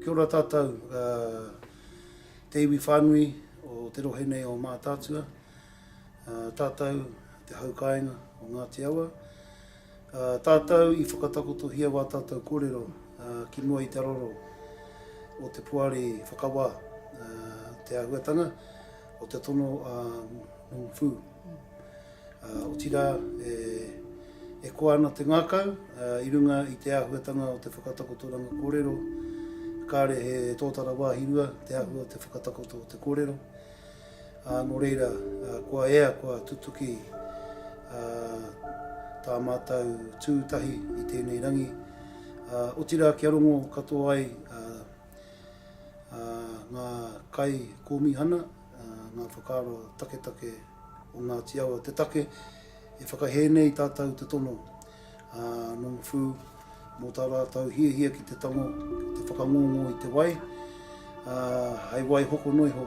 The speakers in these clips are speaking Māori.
Kia ora tātou, te iwi whānui o te rohe nei o Mātaatua, tātou te hau kāinga o Ngāti Awa. Tātou i whakatakotohia wā tātou kōrero ki mua i te roro o te poari whakawā, te āhuatanga o te tono a Nung Fu. Otirā, e koa ana te ngākau i runga i te āhuatanga o te whakatakotoranga kōrero, kāre he tōtara wāhi rua te āhua o te whakatakoto o te kōrero, ā, nō reira, kua ea, kua tutuki tā mātou tū tahi i tēnei rangi, otirā kia rongo katoa ai ngā kaikōmihana, ngā whakaaro taketake. o Ngāti Awa te take e whakahē nei i tātou te tono a Nongawhū mō tā rātou hiahia ki te tango, ki te whakangongo i te wai, ā, hei wai hoko noa iho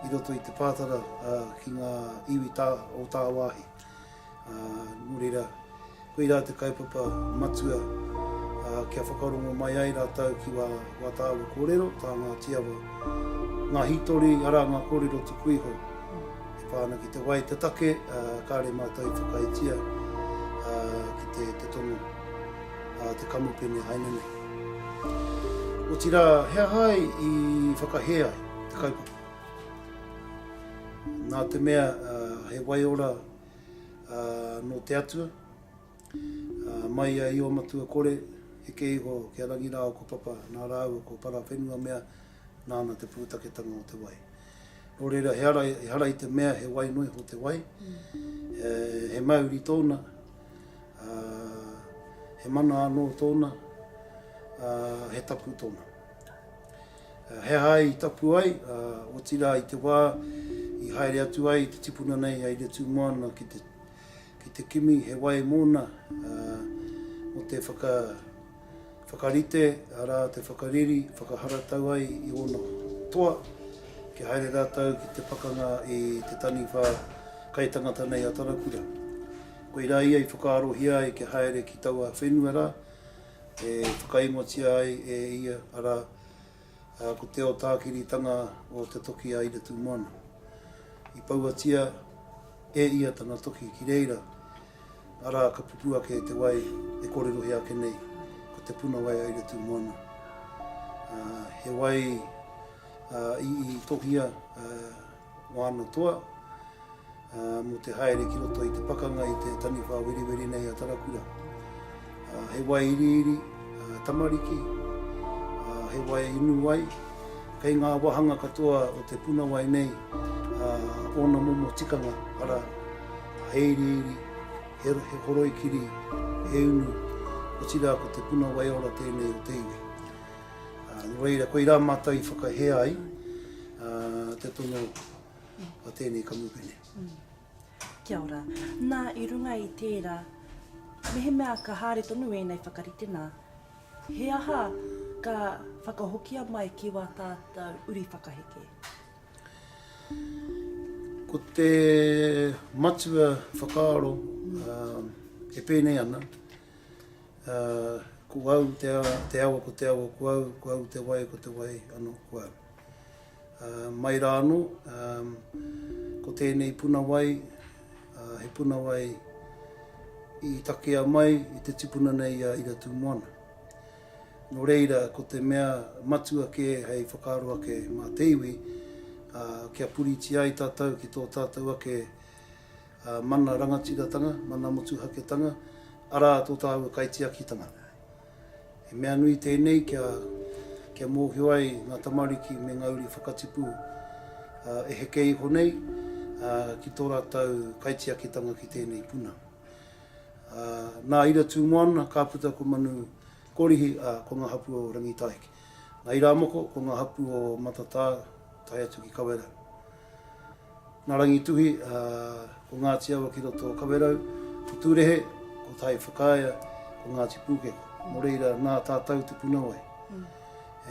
i roto i te pātara ā, ki ngā iwi tā, o tāwāhi. Ā, nō reira, Koirā te kaupapa matua kia whakarongo mai ai rātou ki wā tāua kōrero, tā Ngāti Awa. Ngā hītori, arā, ngā kōrero tuku iho e pā ana ki te wai, te take, kāore mātou i whakaaetia ki te tono a te kamupene haina nei. Otirā, he aha ai i whakahē ai te kaupapa? Nā te mea he waiora ā, nō te Atua, ā, mai a Io-matua kore, heke iho ki a Rangirāo ko Papa, nā rāua ko Parawhenua mea, nāna te pūtaketanga o te wai. Nō reira, he ara, ehara i te mea he wai noa iho te wai, e, he mauri tōna, ā, he mana anō tōna, ā, he tapu tōna. He aha i tapu ai, ā, otirā i te wā i haere atu ai te tipuna nei a Iretūmoana ki te, ki te kimi he wai mōna, ā, mō te whaka, whakarite, arā, te whakariri, whakaharatau ai i ōna toa, kia haere rātou ki te pakanga i te taniwha kaitangata nei a Tarakura. Koirā ia i whakaarohia ai kia haere ki taua whenua rā, e whakaingotia ai e ia, arā, ko Te Otākiritanga o Te Toki a Iretumoana. I pauatia e ia tana toki ki reira, arā, ka pupū ake te wai e kōrerohia ake nei, ko Te Puna Wai a Iretumoana. He wai i tohia, Moana Toa, mō te haere ki roto i te pakanga i te taniwha weriweri nei a Tarakura. He wai iriiri, tamariki, he wai inu wai, kei ngā wāhanga katoa o te puna wai nei ōna momo tikanga, ara, he iriiri, he horoi kiri, he unu, otirā ko te puna wai ora tēnei o te iwi. Nō reira, koirā mātou i whakahē ai te tono a tēnei kamupene. Kia ora. Nā, i runga i tērā, mehemea ka haere tonu ēnei whakarite nā, he aha ka whakahokia mai ki wā tātou uri whakaheke? Ko te matua whakaaro e pēnei ana, Ā, ko au te a, te awa ko te awa ko au, ko au te wai ko te wai anō ko au. Ā, mai rā anō, ā, ko tēnei puna wai, ā, he puna wai i takea mai i te tipuna nei i a Iratūmoana. Nō reira, ko te mea matua kē hei whakaaro ake mā te iwi, ā, kia puritia ai tātou ki tō tātou ake ā, mana rangatiratanga, mana motuhaketanga, arā, tō tāua kaitiakitanga. He mea nui tēnei kia, kia mōhio ai ngā tamariki me ngā uri whakatipu, ā, e heke iho nei, ā, ki tō rātou kaitiakitanga ki tēnei puna. Ā, nā Ira Tūmoana, ka puta ko Manu Korihi, ā, ko ngā hapū o Rangitāheke. Nā Irāmoko, ko ngā hapū o Matatā tae atu ki Kawerau. Nā Rangituhi, ko Ngāti Awa ki roto o Kawerau, ko Tūrehe, ko Tai Whakaea, ko Ngāti Pūkeko. Nō reira, nā tātou te punawai.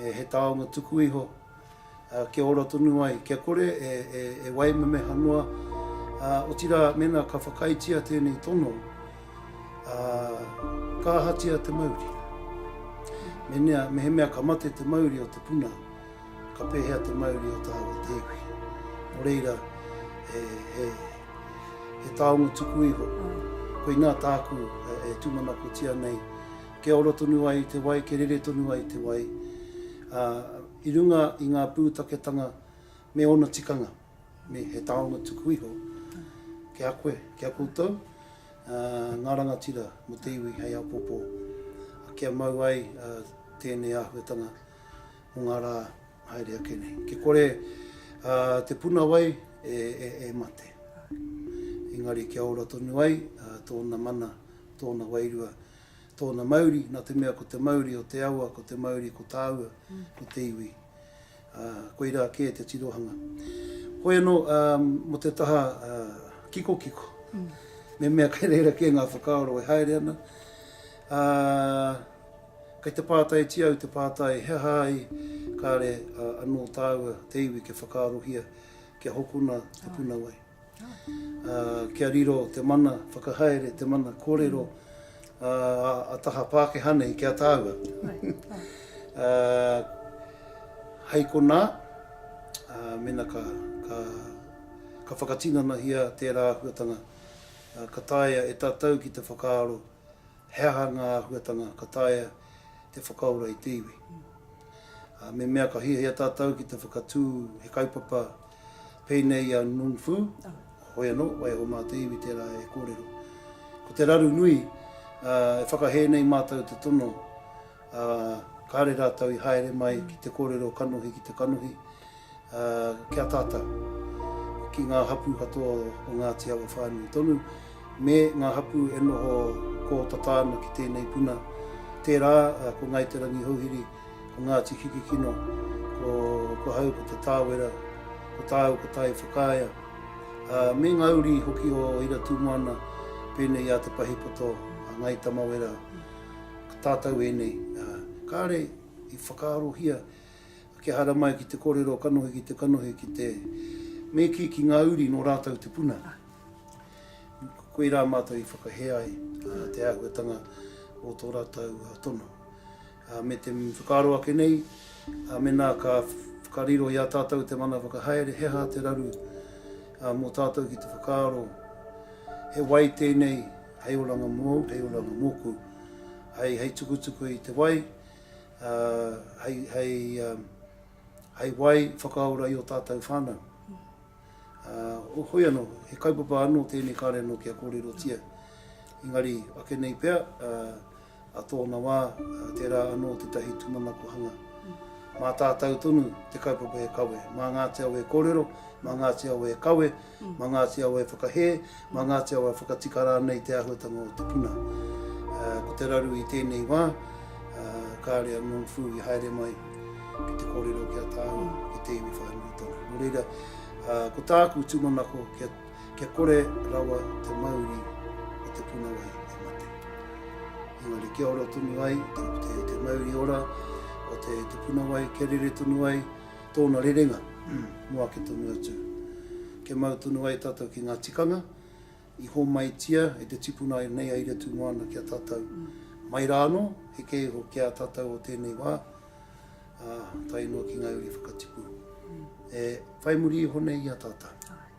He taonga tuku iho kia ora tonu ai, kia kore e waimemeha noa, ā, otirā, mēnā ka whakaaetia tēnei tono, ā, ka ahatia te mauri? Mēnea, mehemea ka mate te mauri o te puna, Ka pēhea te mauri o tāua tēpu? Nō reira, he, he, he taonga tuku iho. Koinā tāku e tūmanakotia nei, kia ora tonu ai te wai, kia rere tonu ai te wai, ā, i runga i ngā pūtaketanga me ōna tikanga, me he taonga tuku iho ki a koe, ki a koutou, ā, ngā rangatira mō te iwi hei apopo, kia mau ai tēnei āhuatanga o ngā rā haere ake nei. Ki kore te puna wai e mate. Engari kia ora tonu ai tōna mana, tōna wairua, tōna mauri, nā te mea ko te mauri o te awa, ko te mauri ko tāua, ko te iwi. Koirā kē te tirohanga. Hoi anō, mō te taha kikokiko, me mea kei reira kē ngā whakaaro e haere ana. Kei te pātaitia au te pātai he aha ai kāre anō tāua te iwi kia whakaarohia kia hokona te puna wai. Kia riro te mana whakahaere, te mana kōrero a taha Pākehā nei ki a tāua. Hei konā, mena ka whakatinanahia tērā āhuatanga ka taea e tātou ki te whakaaro He aha ngā āhuatanga ka taea te whakaora i te iwi? Ā, me mea ka hiahia tātou ki te whakatū he kaupapa pēnei i a Nung Fu, hoi anō, waiho mā te iwi tērā e kōrero. Ko te raru nui, ā, e whakahē nei mātou te tono ā, kāre rātou i haere mai ki te kōrero kanohi ki te kanohi, ā, kia tata ki ngā hapū katoa o Ngāti Awa whānui tonu, me ngā hapū e noho kōtata ana ki tēnei puna, tērā ko Ngāi Te Rangihouhiri, ko Ngāti Kikikino, ko, ko hau ko Te Tāwera, ko tāu ko Tai Whakaea, ā, me ngā uri hoki o Iratūmoana pēnei i a Te Pahipoto, a Ngāi Tamawera, Tātou ēnei, ā, kāre i whakaarohia kia haere mai ki te kōrero kanohi ki te kanohi ki te me kī ki ngā uri nō rātou te puna. Koirā mātou i whakahē ai te āhuatanga o tō rātou tono. Me te whakaaro ake nei, mēnā ka whakariro i a tātou te mana whakahaere, he aha te raru mō tātou ki te whakaaro he wai tēnei Hei oranga mōu, hei oranga mōku. Hei, hei tukutuku i te wai, ā, hei, hei, ā, hei wai whakaora i ō tātou whānau. Ā, hoi anō, he kaupapa anō tēnei kāre anō kia kōrerotia. Engari, ake nei pea, ā, A tōna wā, tērā anō tētahi tūmanako hanga. Mā tātau tonu te kaupapa e kawe. Mā Ngāti Awa e kōrero, mā Ngāti Awa e kawe, mā Ngāti Awa e whakahē, mā Ngāti Awa e whakatika rānei te āhuatanga o te puna. Ko te raru i tēnei wā, kāre a Norm Fu i haere mai ki te kōrero ki a Tāne, ki te iwi whānui tonu. Nō reira, ko tāku tūmanako kia. Kia kore rawa te mauri o te puna wai e mate. Engari kia ora tonu ai te, te, te mauri ora o te, te puna wai, kia rere tonu ai tōna rerenga mō ake tonu atu. Kia mau tonu ai tātou ki ngā tikanga i hōmaitia e te tipuna ai nei aira tū moana kia tātou. Mai rā anō, he kē iho ki a tātou o tēnei wā, a, tae noa ki ngā uri whakatipu. E whai muri iho nei i a tātou.